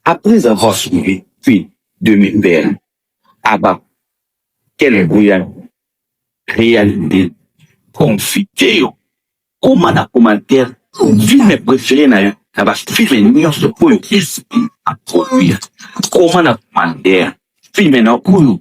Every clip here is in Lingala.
Après avoir suivi puis de mes pères à bas quelle bruyante réalité confiteyo koma na commentaire filme préféré na yo na bafilme nyonso oyo esi aproduire koma na commentaire filme na oyo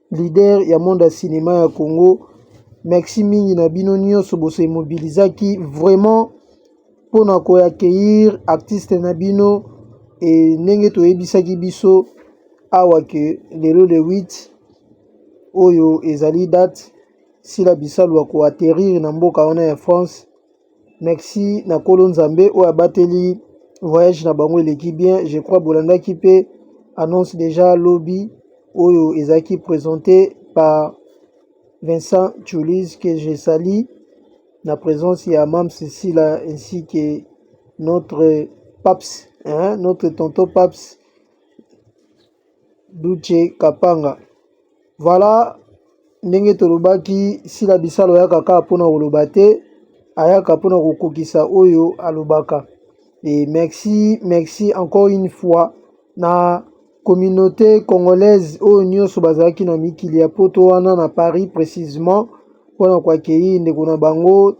Leader ya monde ya cinema ya Congo merci mingi na bino nioso bo se mobilisaki vraiment pona ko accueillir artiste na bino et ndenge toyebisaki biso awa que lelo le 8 oyo ezali date Sila Bisalu ako atterrir na mboka wana ya France Merci na kolo nzambe oyo abateli voyage na bango eleki bien je crois bolandaki mpe annonce déjà lobi oyo ezalaki présenté par Vincent Chulis que je sali na présence ya Mam Cecilia ainsi que notre Paps hein, notre tonton Paps Doutshe Kapanga. Voilà ndenge tolobaki Sila Bisalu ayaka kaka mpo na koloba te, ayaka mpo na kokokisa oyo alobaka. Et merci, merci encore une fois na communauté congolaise oyo nyonso bazalaki na mikili ya poto wana na Paris précisément mpo na koakeyi ndeko na bango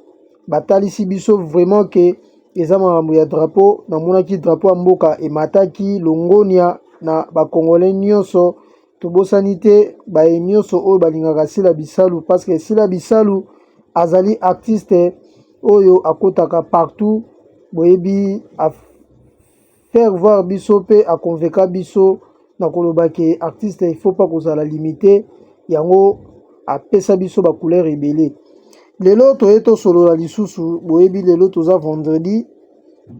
batalisi biso vraiment que eza makambo ya drapeau namonaki drapeau ya mboka emataki longonia na bakongole nyonso tobosani te baye nyonso oyo balingaka sila bisalu parce que sila bisalu azali artiste oyo akotaka partout boyebi faire voir biso pe a convainca biso na koloba ke artiste il faut pas kozala limite yango apesa biso ba couleur ebele lelo toye tosolola lisusu boyebi lelo toza vendredi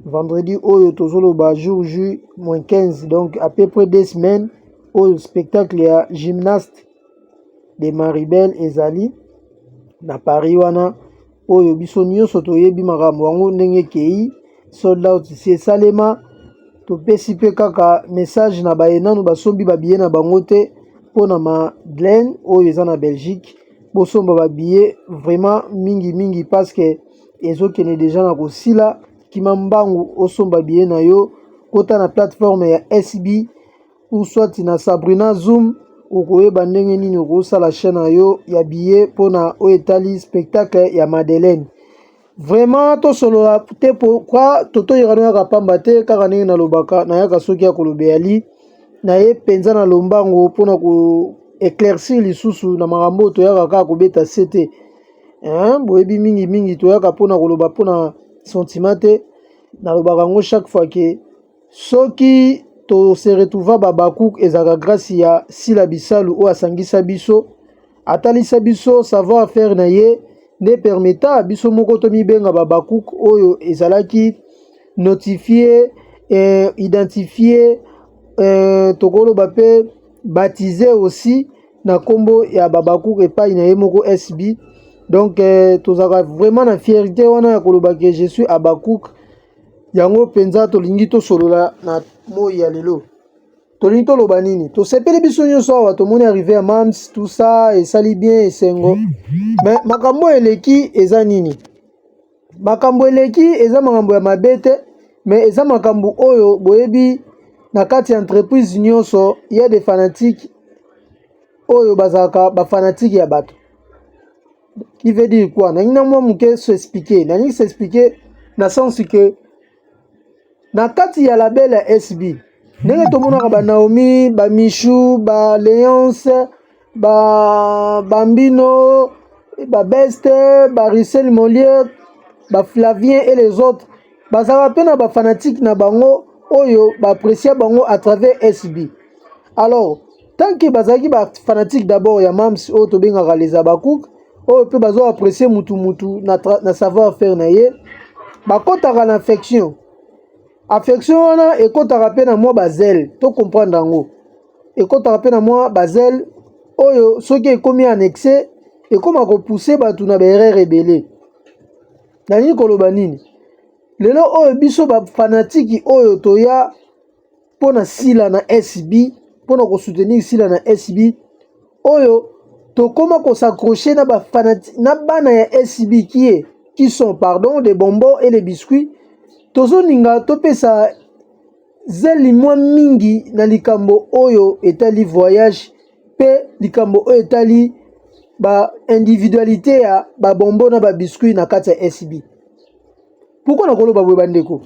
vendredi oyo tozoloba jour ju moins 15 donc à peu près deux semaines oyo spectacle ya gymnaste de maribel ezali na paris wana oyo biso nyonso toyebi makambo yango ndenge ekei sold out si esalema topesi mpe kaka message na baye nanu basombi babiye na bango te mpo na madeleine oyo eza na belgique bosomba babiye vraiment mingi mingi paske ezokende deja na kosila kima mbangu osomba biye na yo kota na plateforme ya sb ou soit na Sabrina Zoom okoyeba ndenge nini okosala chaîne na yo ya billet mpo na oyo etali spectacle ya Madeleine. Vraiment tosolola te pourquoi Toto Irano yaka pamba te kaka ndenge nalobaka nayaka soki ya koloba yali naye mpenza na lombango mpo na ko éclaircir lisusu na makambo oyo toyaka kaka kobeta se te boyebi mingi mingi toyaka mpo na koloba mpo na sentiment te nalobaka yango chaque fois ke Soki to se retrouva Habacuc ezalaka grâce ya Sila Bisalu oyo asangisa biso, atalisa biso savoir faire na ye nde permeta biso moko tomibenga Habacuc oyo ezalaki notifier eh, identifier eh, tokoloba pe baptiser aussi na kombo ya Habacuc epai na ye moko SB. Donc eh, tozalaka vraiment na fierté wana ya koloba que je suis Habacuc Yango mpenza tolingi tosolola na moi ya lelo. Tolingi toloba nini? Tosepeli biso nyonso awa tomoni arrive ya mams tout ça esali bien esengo. Me makambo oyo eleki eza nini? Makambo eleki eza makambo ya mabe te, me eza makambo oyo boyebi na kati ya entreprise nyonso ya de fanatiques oyo bazalaka bafanatike ya bato qui veut dire quoi nangi na mwa moke se expliquer nangi se expliquer na sens que na kati ya label ya sb ndenge tomonaka ba naomi ba michou ba leance ba bambino ba beste ba ricel molier ba flavien et les autres bazalaka mpe na bafanatike na bango oyo baaprecia bango à travers sb alors tant que bazalaki ba fanatique d'abord ya Mams oyo tobengaka les Habakkuk oyo mpe bazo apprécier mutu mutu na, na savoir faire na ye bakotaka na affection affection wana ekotaka mpe na mwa bazele to comprendre yango ekotaka mpe na mwa bazele oyo soki ekomi annexe ekoma kopousse bato na baerreur ebele nalingi koloba nini lelo oyo biso bafanatiki oyo toya mpo na sila na SB, mpo na kosoutenir sila na SB oyo tokoma kosaccroche na, na bana ya SB kie qui sont pardon des bonbons et les biscuits tozolinga topesa zeli mwa mingi na likambo oyo etali voyage mpe likambo oyo etali baindividualité ya babombo na babiscuit na kati ya SB. Pourkua nakoloba boye bandeko?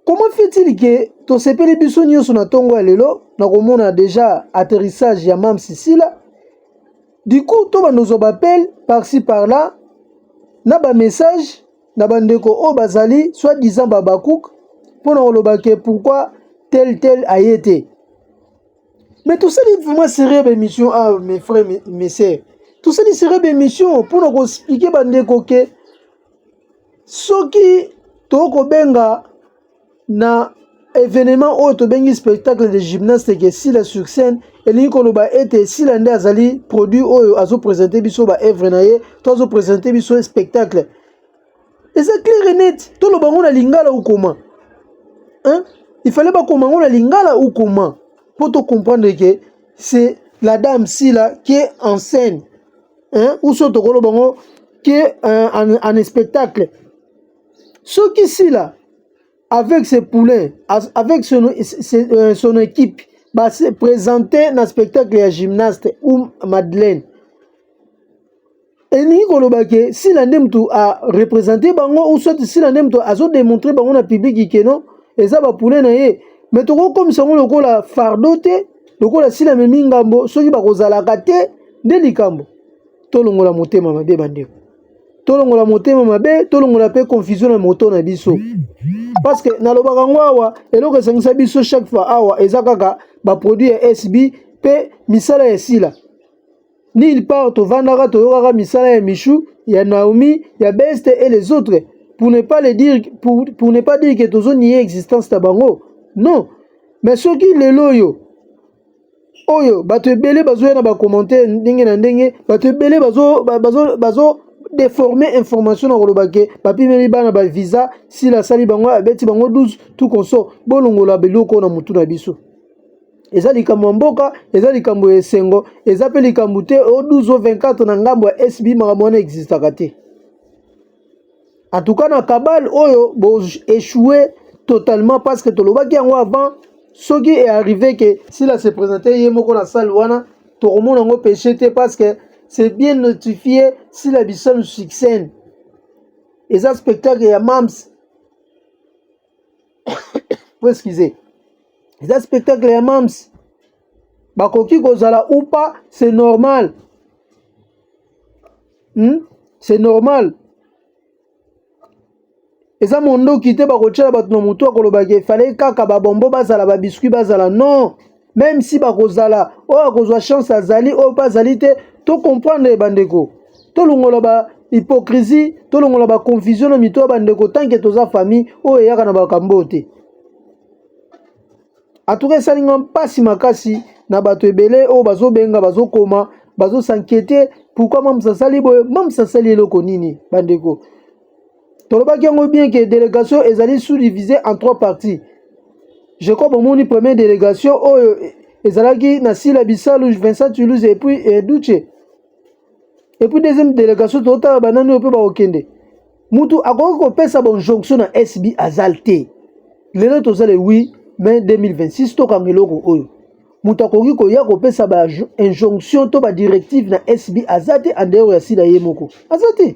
Comment fait-il que tosepeli biso nyonso na ntongo ya lelo na komona deja atterrissage ya Mam Sisila? Du coup, tobanda ozwa bapele par-ci par-là na bamessage na bandeko oyo bazali soit disant babakouk mpo na koloba ke pourquoi tel tel aye te. Mais tosali vraiment sérieux baémission awa ah, mes frères mes sœurs tosali sérieux baémission mpo na koexplike bandeko ke soki tokobenga na evenement oyo tobengi spectacle de gymnaste eke sila sur scène elingi koloba ete sila nde azali produit oyo azopresente biso baevre na ye to azopresente biso spectacle eza claire net toloba yango na lingala ukoma hein? il fallait bakoma yango na lingala ukoma mpo tocomprendre ke c'est la dame sila qui est en scène hein uso tokolo bango que euh, en, en spectacle soki sila avec ses poulains avec son, ses, euh, son équipe ba se présenter na spectacle ya gymnaste ou Madeleine elingi koloba ke sila nde moto arepresente bango ou soit sila nde moto azodemontre bango na publiki keno eza bapule na ye me tokokomisa yango lokola fardo te lokola si namemi ngambo soki bakozalaka te nde likambo tolongola motema mabe bandeko tolongola motema mabe tolongola mpe confusion na moto na biso parce que nalobaka yango awa eloko esangisa biso chaque fois awa eza kaka baproduit ya sb mpe misala ya sila Nulle part tovandaka toyokaka misala ya Michou, ya Naomi, ya Beste et les autres pour ne pas le dire pour, pour ne pas dire que tozo nier existence na bango. Non. Mais soki lelo oyo oyo bato ebele bazoya na bacommentaire ndenge na ndenge bato ebele bazo, bazo, bazo déformer information na koloba ke bapimeli bana ba visa sila asali bango abeti bango 12 tout consort bolongola biloko na motu na biso eza likambo ya mboka eza likambo ya esengo eza mpe likambo te o 12 o 24 na ngambo ya sb makambo wana existaka te en tout cas na kabale oyo boechoue totalement parce que tolobaki yango avant soki earrive ke sila se présente ye moko na salle wana tokomona yango péché te parce que c'est bien notifié sila bisalu succène eza spectacle ya mams excusez eza spectacle ya mams bakoki kozala ou pas c'est normal hmm? c'est normal eza mondoki te bakotyela bato na motu akoloba ke efale kaka babombo bazala babiskuit bazala non meme si bakozala oyo akozwa chance azali oyo mpe azali te to comprendre ye bandeko tolongola ba hypocrisie tolongola ba confusion na mito ya bandeko tanke toza famille oyo eyaka na bakambo oyo te atuka esali nga mpasi makasi na bato ebele oyo bazobenga bazokoma bazosankete pourkui mamsa asali boye mamsa asali eloko nini bandeko tolobaki yango bien que délégation ezali sous-divisée en trois parties je crois bomoni première délégation oyo ezalaki na sila bisalu vincent toulouse et puis eh, duce et puis deuxième délégation totala banani oyo mpe bakokende mutu akoki kopesa bonjonction na sb azal te lelo toza le 8 mai 2026 tokanga eloko oyo moto akoki koya kopesa ba injonction to ba directive na sb aza te andeyoro ya sila ye moko aza te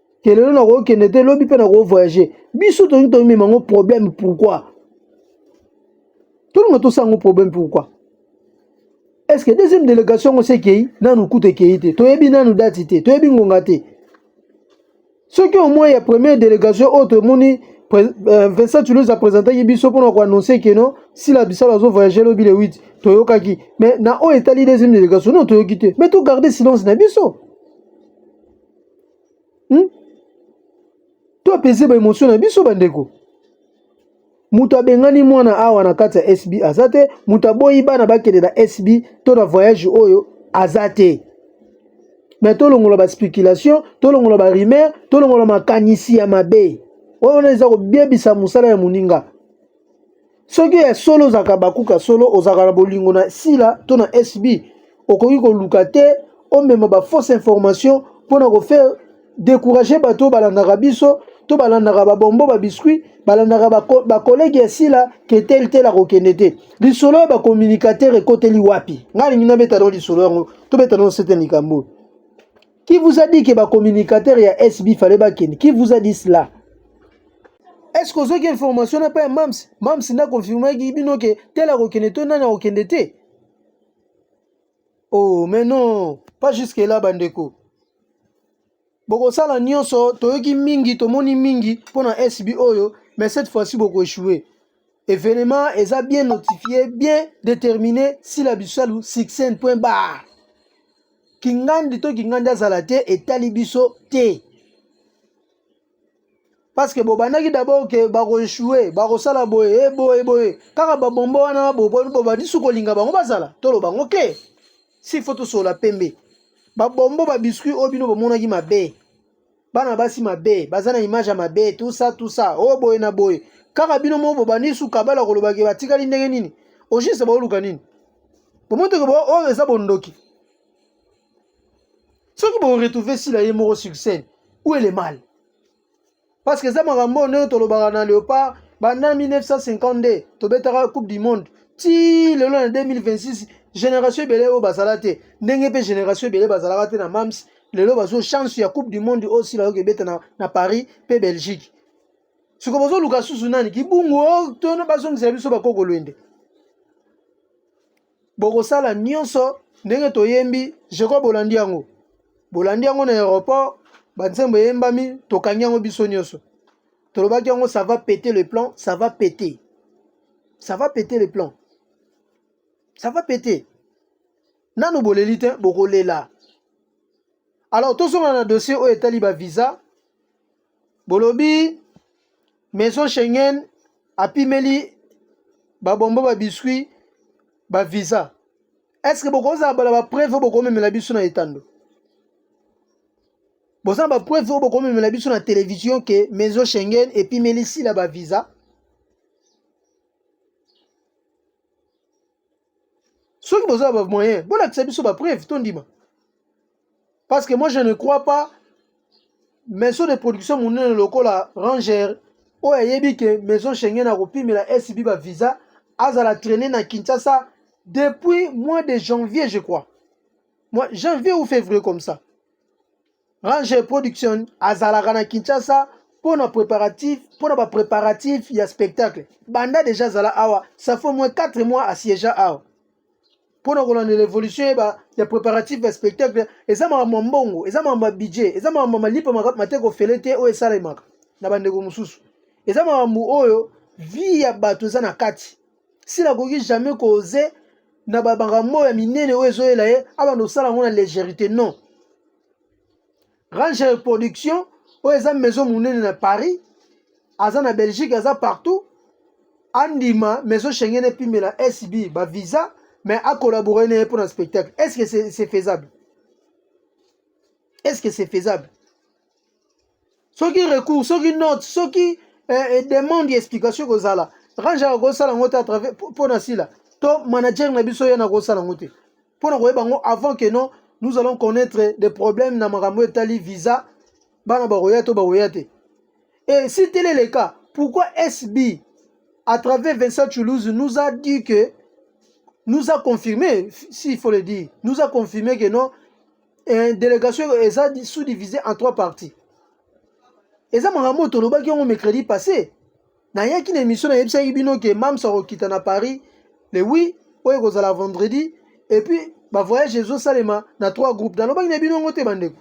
te lelo nakoki kende te lobi mpe nakoki voyage biso tolingi tomema yango problème pourquoi tolinga tosala yango problème pourquoi est ce que deuxième délégation yango se ekei nanu kutu ekei te toyebi nanu dati te toyebi ngonga te soki omoi ya première délégation oyo tomoni euh, vincent toulouse apresentaki biso mpona koannonce keno sila bisalo azovoyage lobi le 8 toyokaki mais na oyo etali deuxième délégation no toyoki te mais togarde silence na biso hmm? to apese ba emotion na biso bandeko moto abengani mwana awa na kati ya sb aza te moto aboyi bana bakende na sb to na voyage oyo aza te me tolongola baspéculation tolongola barumeur tolongola makanisi ya mabe oyo wana eza kobebisa mosala ya moninga soki ya solo ozalaka bakuka solo ozalaka na bolingo na sila to na sb okoki koluka te omema bafausse information mpo na kofaire décourage bato oyo balandaka biso to balandaka babombo babiscuit balandaka bakolege ya sila ke tele tele akokende te lisolo ya bacommunicateur ekoteli wapi ngai alingi nabeta no lisolo yango tobeta no sete likambo oyo Qui vous a dit que ba communicateur ya SB fallait ba ken? Qui vous a dit cela? Est-ce que ozoki information na pa ya Mams? Mams na confirmer ki bino ke tel akokende to nani akokende te? Oh mais non, pas jusque là bandeko. Bokosala nyonso, toyoki mingi, tomoni mingi mpo na SB oyo, mais cette fois-ci boko échouer. Evenement eza bien notifié, bien déterminé, sila bisalu succès point barre. Kingandi to kingandi azala te etali biso te. Parce que bobandaki d'abord que bako échouer, bako sala boye, eh, boye boye. Kaka ba bombo wana bo bo ba disu kolinga bango bazala. Tolo bango ke. Si faut to sola pembe. Ba bombo ba biscuits obino bomonaki mabe. bana basi mabe baza na image ya mabe tout ça tout ça oyo oh, boye na boye kaka bino moko bobandi suka bala koloba ke batikali ndenge nini au juste baoluka nini bomoteke bo oyo oh, eza bondoki soki boretrouve sila ye moko sur scène ou ele mal parce que eza makambo oyo ndenge tolobaka na léopard banda 1952 tobetaka coupe du monde ti lelo na 2026 génération ebele oyo bazala te ndenge mpe génération ebele bazalaka te na mams lelo bazo chance ya coupe du monde oyo sila yoki ebeta na, na paris mpe belgique siko bozoluka susu nani kibungu oyo oh, tono bazongisela biso bakokolwende bokosala nyonso ndenge toyembi jeko bolandi yango bolandi yango na aéroport banzembo eyembami tokangi yango biso nyonso tolobaki yango ça va péter le plan ça va péter ça va péter le plan ça va péter nanu boleli te bokolela alors tozonga na dossier oyo etali bavisa bolobi maison schengen apimeli babombo babiscuit bavisa est ce que bokozala bala bapreuve oyo bokomemela biso na etando boza na bapreuve oyo bokomemela biso na televizio ke maison schengen epimeli sila bavisa soki boza ba moyen bolakisa biso ba preuve tondima parce que moi je ne crois pas maison de production monene lokola ranger oyo ayebi ke maison schengen akopimela sb ba visa azala traîne na kinshasa depuis mois de janvier je crois moi janvier ou février comme ça Ranger Production azalaka na Kinshasa mpo na preparatif mpo na bapreparatif ya spectacle banda deja azala awa ça fait moins 4 mois asiéja awa mpo na kolanda l'évolution yeba ya préparatif ya spectacle eza makambo ya mbongo eza makambo ya budget eza makambo ya malipa mateka ofele te oyo esalemaka na bandeko mosusu eza makambo oyo vie ya bato eza na kati si nakoki jamais koze na bamakambo ya minene oyo ezoyela ye abanda kosala yango na légerité non range reproduction oyo eza maison monene na paris aza na belgique aza partout andima maison schengen epimela sb bavisa mais akolabore na ye mpo na spectacle est ce que c'est faisable est ce que c'est faisable soki recours soki note soki eh, eh, demande ya explication ekozala range akosala yango te atravers mpo na sila to manager na biso ye nakosala yango te mpo na koyeba yango avant que non nous allons connaître des problèmes na makambo etali visa bana bakoya to bakoya te et si tel est le cas pourquoi sb à travers vincent toulouse nous a dit que nous a confirmé s'il faut le dire nous a confirmé que non eh, delegation eza sous divisé en trois parties eza makambo oyo tolobaki yango mercredi passé nayaki na émission nayebisaki bino ke mams akokita na paris le wi oyo ekozala vendredi epuis bavoyage ezosalema na trois groupe nalobaki na bino yango te bandeko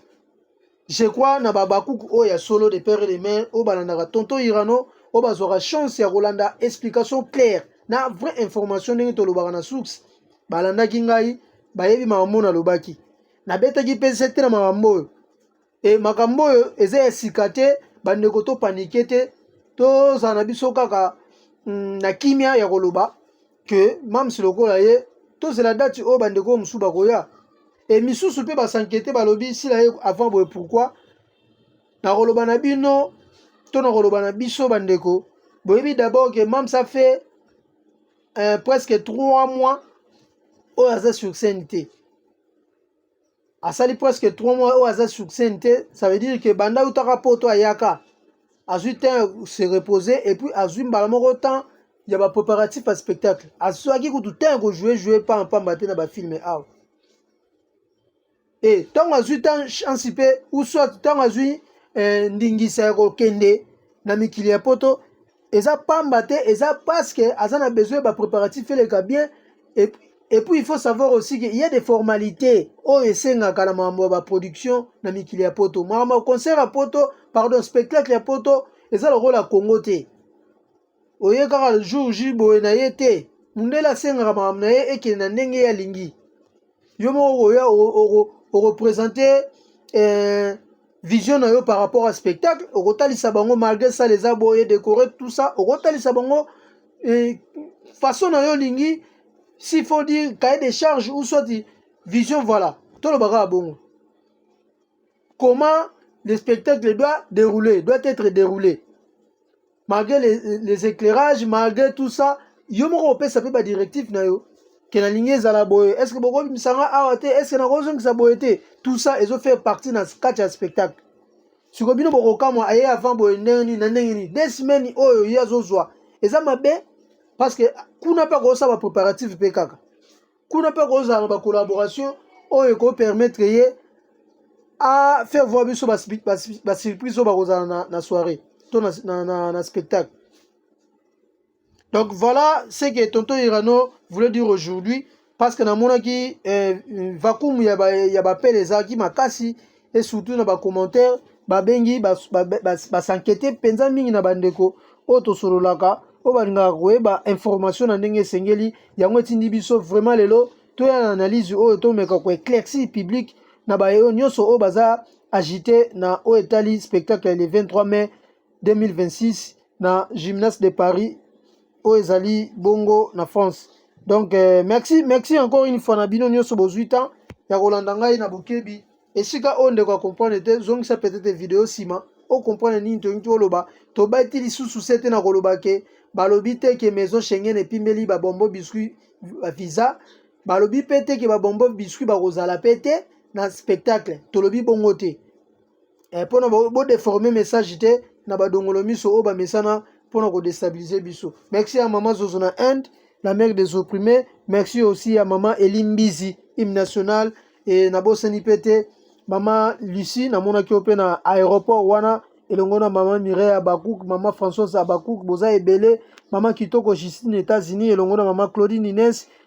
je crois na babakuku oyo oh, ya solo de père et de mère oyo oh, balandaka tonton irano oyo oh, bazwaka chance ya kolanda explication claire na vraie information ndenge tolobaka na source balandaki ngai bayebi makambo oyo nalobaki nabetaki mpe nsete na makambo oyo e makambo oyo eza ya sika te bandeko topanike te tozala na biso kaka mm, na kimia ya koloba ke mams lokola ye tozela dati oyo bandeko oyo mosusu bakoya e misusu mpe basankete balobi sila ye avant boye pourkui nakoloba na bino to nakoloba na biso bandeko boyebi dabord ke mams afe euh, presque 3 mois oyo aza sur scène te asali presque 3 mois oyo aza sur scène te ça veut dire que banda utaka poto ayaka azwi temps se reposer et puis azwi mbala moko temps ya ba préparatif ya spectacle azwaki kutu temps ya kojoue joue pamba pamba te na bafilme awa e ntango azwi ta chance mpe uswat ntango azwi eh, ndingisa ya kokende na mikili ya poto eza pamba te eza parce que aza na besoin ba préparatif eleka bien et, et puis il faut savoir aussi que il y a des formalités oyo esengaka na makambo ya baproduction na mikili ya poto makambo ya concert ya poto pardon spectacle ya poto eza lokola congo te Oye kaka jour J boye na ye te. Mundele asengaka makambo na ye ekende na ndenge ye alingi. Yo moko okoya okopresente eh, vision na yo par rapport à spectacle okotalisa bango malgré ça les aboye décoré tout ça okotalisa bango eh, façon na yo olingi s'il faut dire cahier des charges ou soit vision voilà toloba kaka bongo comment le spectacle doit dérouler doit être déroulé malgré les, les éclairages malgré tout ça yo moko opesa mpe badirective na yo ke nalingi ezala boye est ce que bokobimisa nga awa te est ce que nakozongisa boye te tout ça ezo faire partie na kati ya spectacle siko bino bokokamwa aye avant boye ndenge nini na ndenge nini de semaine oyo ye azozwa eza mabe parce que kuna mpe akosala bapréparative mpe kaka kuna mpe akozala na bacollaboration oyo ekopermettre ye a faire voir biso basurprise oyo bakozala na, na soirée to na, na, na, na spectacle donc voilà ce que tonton irano voulait dire aujourd'hui parce que namonaki eh, vacuum ya bapele ba ezalaki makasi et surtout na ba commentaires babengi basankete mpenza mingi na bandeko oyo tosololaka oyo balingaka koyeba information na ndenge esengeli yango etindi biso vraiment lelo toya na analyse oyo tomeka koeclaircir public na bayo nyonso oyo baza agite na oyo etali spectacle ya le 23 mai 2026 na gymnase de paris oyo ezali bongo na France. Donc euh, merci merci encore une fois na bino nyoso bozui temps ya kolanda ngai na bokebi. Esika oyo ndeko comprendre te zongisa peut-être video sima o comprendre nini tolingi toloba. Tobati lisusu sete na koloba ke balobi te ke maison Schengen epimbeli ba bombo biscuit ba visa. Balobi pe te ke ba bombo biscuit bakozala pe te na spectacle. Tolobi bongo te. eh, pona bo deformer message te na ba dongolo miso oyo ba mesana pona ko destabiliser biso merci ya mama zozo na Inde la mère des opprimés merci aussi ya mama Elimbizi hymne national et na bosani pe te mama Lucie namonaki yo pe na aéroport wana elongo na mama Mireille Abakouk, mama Françoise Abakouk, boza ebele, mama Kitoko Justine États-Unis elongo na mama Claudine Inès,